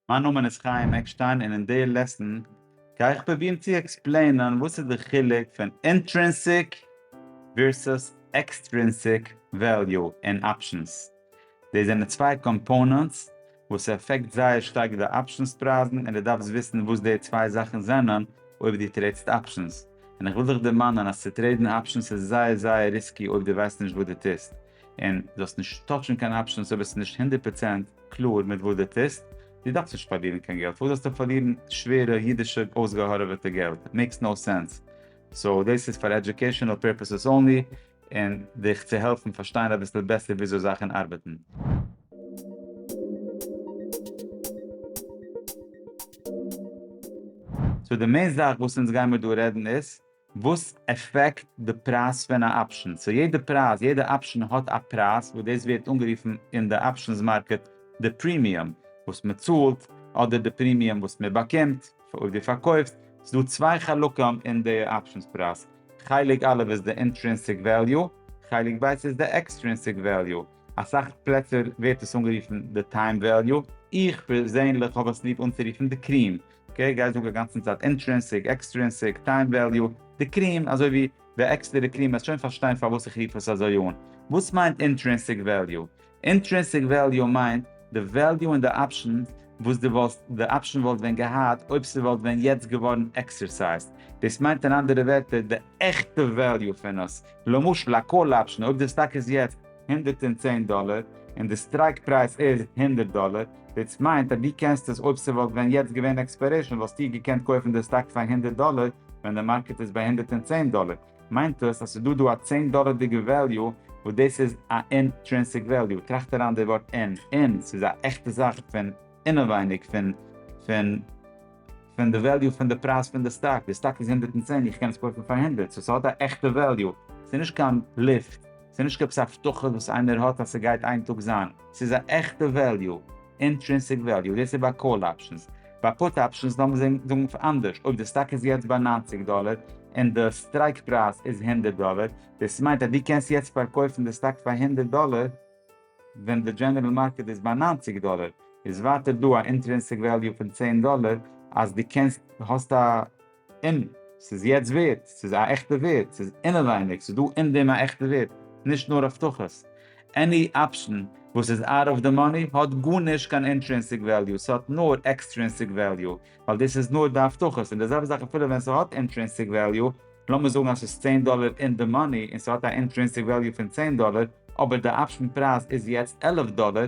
מיין נאמען איז חיים עקשטיין און אין די לעסן גיי איך פרובירן צו עקספלעינען וואס איז די חילוק פון אינטרינסיק ווירסוס עקסטרינסיק וועליו אין אפשענס. דאס זענען צוויי קאמפאונענטס וואס עפעקט זייער שטארק די אפשענס פרייזן און דו דארפסט וויסן וואס די צוויי זאכן זענען אויב דו טרעידסט אפשענס און איך וויל דיך דערמאנען אז צו טרעידן אפשענס איז זייער זייער ריסקי אויב דו ווייסט נישט וואס דו טוסט און דו זאלסט נישט טאטשן קיין אפשענס אויב עס איז נישט הונדערט פראצענט קלאר מיט וואס דו טוסט, דו דארפסט נישט פארלירן קיין געלט, פארוואס זאלסטו פארלירן שווערע אידישע אויסגעהארעוועטע געלט? מעיקס נאו סענס. סאו דאס איז פאר עדיוקעישאנעל פערפעסעס אנלי, און דיך צו העלפן פארשטיין אביסל בעסער וויאזוי זאכן ארבעטן. סאו די מעין זאך וואס אונז גיימיר דא רעדן איז. וואס עפעקט די פרייז פון א אפשען? סאו יעדע פרייז, יעדע אפשען האט א פרייז וואס דאס ווערט אנגערופן אין די אפשענס מארקעט די פרימיום וואס מען צאלט אדער די פרימיום וואס מען באקומט אויב דו פארקויפסט. ס'איז דא צוויי חלקים אין די אפשענס פרייז, חלק א' איז די אינטרינסיק וועליו, חלק ב' איז די עקסטרינסיק וועליו, אסאך פלעצער ווערט עס אנגערופן די טיים וועליו, איך פערזענליך האב עס ליב אנצורופן די קריעם אקעי, גיי זאג אגאנצן צייט אינטרינסיק, עקסטרינסיק, טיים וועליו, די קריעם אזוי ווי די עקסטערע קריעם וועסט שוין פארשטיין פארוואס איך רוף עס אזוי אן. וואס מיינט אינטרינסיק וועליו? אינטרינסיק וועליו מיינט די וועליו אין די אפשן וואס די וואלסט די אפשן וואלט ווען געהאט אויב ס'וואלט ווען יעצט געווארן עקסערסייזט. דאס מיינט אין אנדערע ווערטער די עכטע וועליו פון עס. למשל א קאל אפשן אויב די סטאק איז יעצט. הונדערט און צען דאלער און די סטרייק פרייז איז הונדערט דאלער, דאס מיינט אז דו קענסט עס אויב ס'וואלט ווען יעצט געווען עקספיירעישן וואלסטו געקענט קויפן די סטאק פאר הונדערט דאלער ווען די מארקעט איז ביי הונדערט און צען דאלער, מיינט דאס אז ס'דא דא א צען דאלערדיגע וועליו וואס דאס איז א אינטרינסיק וועליו, טראכט אריין די ווארט אין, אין, ס'איז א עכטע זאך פון אינעווייניג פון פון פון די וועליו פון די פרייז פון די סטאק, די סטאק איז הונדערט און צען איך קען עס קויפן פאר הונדערט, סאו ס'האט א עכטע וועליו, ס'איז נישט קיין בלוף, ס'איז נישט עפעס א הבטחה וואס איינער האט אז ס'גייט איין טאג זיין, ס'איז א עכטע וועליו, אינטרינסיק וועליו, דאס איז ביי קאל אפשענס, ביי פוט אפשענס לאמיר זאגן אנדערש, אויב די סטאק איז יעצט ביי נײַנציק דאלער און די סטרייק פרייז איז הונדערט דאלער, דאס מיינט אז דו קענסט יעצט פארקויפן די סטאק פאר הונדערט דאלער ווען די דזשענערל מארקעט איז ביי נײַנציק דאלער, איז ווייטער דא א אינטרינסיק וועליו פון צען דאלער אז דו קענסט, האסט א און ס'איז יעצט ווערד, ס'איז א עכטע ווערד, ס'איז אינעווייניג, ס'איז דא אין דעם א עכטע ווערד, נישט נאר הבטחות. עני אפשען וואס איז אוט אוו די מאני האט גארנישט קיין אינטרינסיק וועליו, ס'האט נאר עקסטרינסיק וועליו, ווייל דאס איז נאר די הבטחות, און די זעלבע זאך אפילו ווען ס'האט אינטרינסיק וועליו, לאמיר זאגן אז ס'איז צען דאלער אין די מאני און ס'האט א אינטרינסיק וועליו פון צען דאלער, אבער די אפשען פרייז איז יעצט עלף דאלער,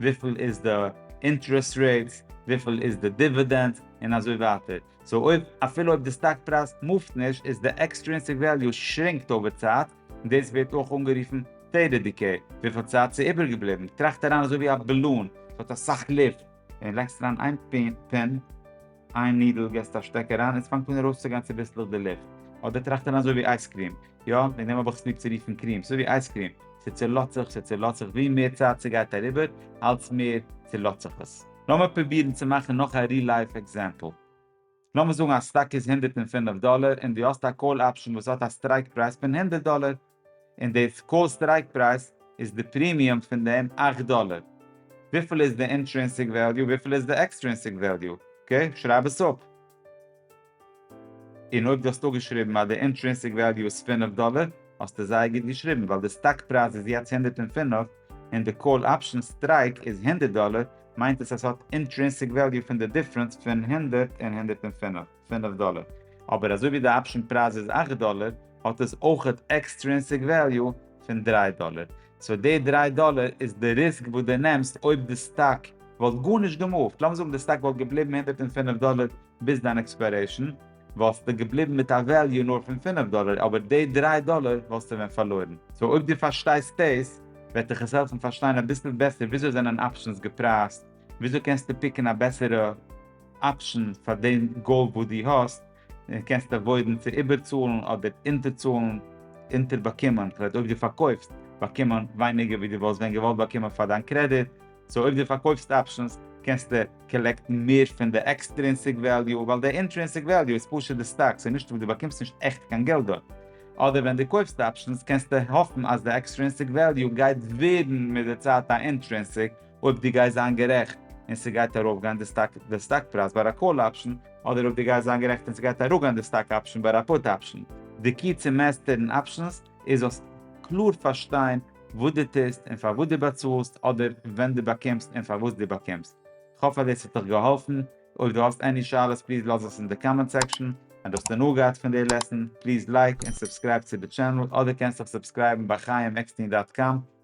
וויפיל איז די אינטערעסט רעיט, וויפיל איז די דיווידענד, און אזוי ווייטער. סאו אויב, אפילו אויב די סטאק פרייז מופט נישט, איז די עקסטרינסיק וועליו שרינקט אויבער צייט, און דאס ווערט אויך אנגערופן סטעיטעד דיקעי, וויפיל צייט ס'איז איבערגעבליבן טראכט אריין אזוי ווי א בעלון, ס'האט אסאך לופט, און לייגסט אריין איין פין, איין נידל געסט א שטעק אריין און ס'פאנגט אן ארויסצוגיין צוביסלעך די לופט. אדער טראכט ער אזוי ווי אייזקריעם, יא, וועגן דעם האב איך עס ליב צו רופן קריעם, ס'אזוי ווי אייזקריעם, ס'צולאזט זיך, ס'צולאזט זיך, ווי מער צייט ס'גייט אריבער, אלץ מער צולאזט זיך עס. לאמיר פרובירן צו מאכן נאך א ריל לייף עקזעמפל. לאמיר זאגן אז סטאק איז הונדערט און פינף דאלער און דו האסט א קאל אפשן וואס האט א סטרייק פרייז פון הונדערט דאלער, און די קאר סטרייק פרייז איז די פרימיום פון דעם אכט דאלער, וויפיל איז די אינטרינסיק וועליו וויפיל איז די עקסטרינסיק וועליו, אקעי שרייב עס אפ. און אויב דו האסט אפגעשריבן אז די אינטרינסיק וועליו איז פֿינף דאלער האסטו זייער גוט געשריבן ווייל די סטאק פרייז איז יעצט הונדערט און פֿינף און די קאל אפשען סטרייק איז הונדערט דאלער מיינט עס אז ס'האט אינטרינסיק וועליו פון די דיפרענס פון הונדערט און הונדערט און פֿינף. פֿינף דאלער, אבער אזוי ווי די אפשען פרייז איז אַכט דאלער האט עס אויכעט עקסטרינסיק וועליו פון דרײַ דאלער, סאו די דרײַ דאלער איז די ריסק וואס די נעמסט אויב די סטאק וואלט גארנישט געמופט, לאמיר זאגן די סטאק וואלט געבליבן הונדערט און פֿינף דאלער ביז דיין עקספיירעישן וואלסטו געבליבן מיט א וועליו נאר פון פֿינף דאלער אבער די דרײַ דאלער וואלסטו ווען פארלוירן, סאו אויב די פארשטייסט דאס וועט דיך עס העלפן פארשטיין אביסל בעסער וויאזוי זענען אפשענס געפרייזט, וויאזוי קענסטו פיקן א בעסערע. אפשן פאר דעם גאול וואס דו האסט, און קענסט עוואוידן צו איבערצאלן אדער אונטערצאלן, אונטערבאקומען, כלומר אויב דו פארקויפסט, באקומען ווייניגער ווי דו וואלסט ווען געוואלט באקומען פאר דיין קרעדיט, סאו אויב דו פארקויפסט אפשנס קענסטו קאלעקטן מער פון די עקסטרינסיק וועליו, ווייל די אינטרינסיק וועליו איז פשוט די סטאק, סאיז נישט דו באקומסט נישט עכט קיין געלט דארט, אדער ווען דו קויפסט אפשנס קענסטו האפן אז די עקסטרינסיק וועליו גייט ווערן מיט די צייט א אינטרינסיק, אויב דו גייסט זיין גערעכט און ס'גייט ארויפגיין די סטאק די סטאק פרייז ביי א קאל אפשן, אדער אויב דו גייסט זיין גערעכט און ס'גייט אראפגיין די סטאק אפשן ביי א פוט אפשן. די קי צו מעסטערן אפשנס איז זאלסט קלאר פארשטיין וואס דו טוסט און פארוואס דו באצאלסט אדער ווען דו באקומסט און פארוואס דו באקומסט. כ'האף אז דאס האט דיך געהאלפן. אויב דו האסט עני שאלות פליז לאז עס אין די קאמענט סעקשאן. אויב האסט הנאה געהאט פון די לעסן פליז לייק און סובסקרייב צו די טשענעל אדער קענסט דיך סובסקרייבן ביי חיים עקסטין דאט קאם.